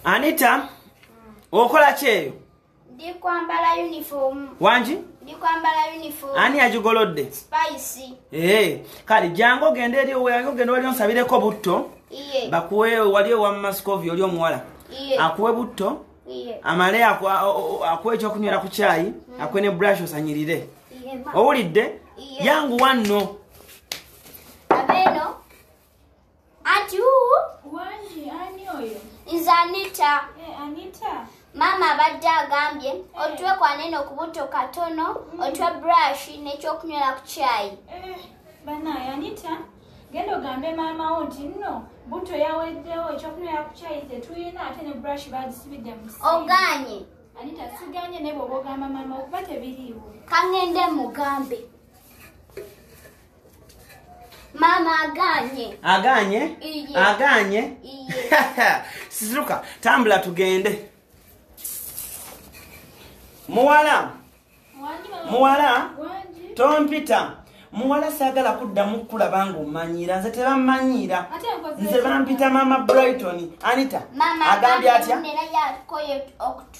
anita okola kyeyo ndikwambala uniform wangi ndikwambala uniform ani yagigolodde spice ee kale jangu ogende eri oweyange ogende wali onsabireko butto iye bakuwe wali owa mascovi oli omuwala iye akuwe butto iye amale aku- a- o- o- akuwe ekyokunywera ku kyayi akuwe ne brush osanyirire iye ma owulidde Iye. yangu wanno abeno Ati huu? Wani, ani oyo? Is Anita. Eh, Anita. Mama abadde agambye eh. otwe kwaneno kubuto katono mm. otwe brush nekyokunywera ku kyayi eh, banaye anita genda ogambe maama wo nti nno buto yaweddewo ekyokunywera ku kyayi tetuyina ate ne brush bagisibidde mu oganye anita siganye naye bwoba ogamba maama okuba tebiriiwo kangende mugambe Mama aganye. Aganye? Iye. Aganye? Iye. Sizuka, tambula tugende. Muwala. Muwala. Tom Peter. Muwala sagala kudda mukula bangu manyira. Nze teba manyira. Nze bampita mama Brighton. Anita. Mama agambye atya? Mama aganye.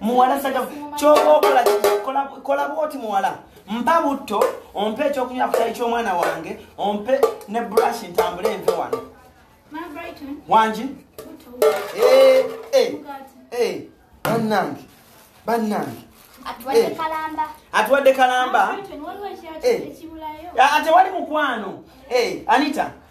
muwala saga kyoba okola kola bwoti muwala mpa butto ompe ekyokunywa kutayi kyomwana wange ompe ne brush ntambule enve wano wangi eh, eh, eh, bannange bannange atuwadde kalamba ate wali mukwano anita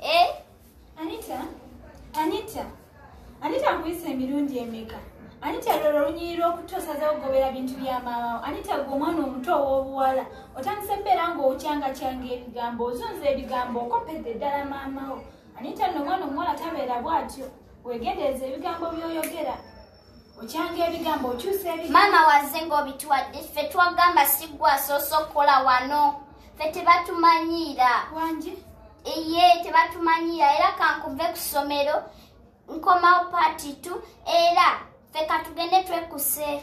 Eh? Anita? Anita? Anita nkuyise emirundi emeka? Anita lolo lunyirira okutosaza okugobera bintu bya maawo. Anita gwe omwana omuto ow'obuwala. Otandise mbeera ng'okyanga kyanga ebigambo, ozunza ebigambo, okopedde ddala maamawo. Anita nno omwana omuwala tabeera bw'atyo. Weegendereze ebigambo by'oyogera. okyanga ebigambo okyusa ebigambo maama waze ng'obitwadde ffe twagamba siggwa asoosa okukola wano ffe tebatumanyiira wangi eye tebatumanyiira era kankuve ku ssomero nkomawo paati tu era ffe katugende twekuse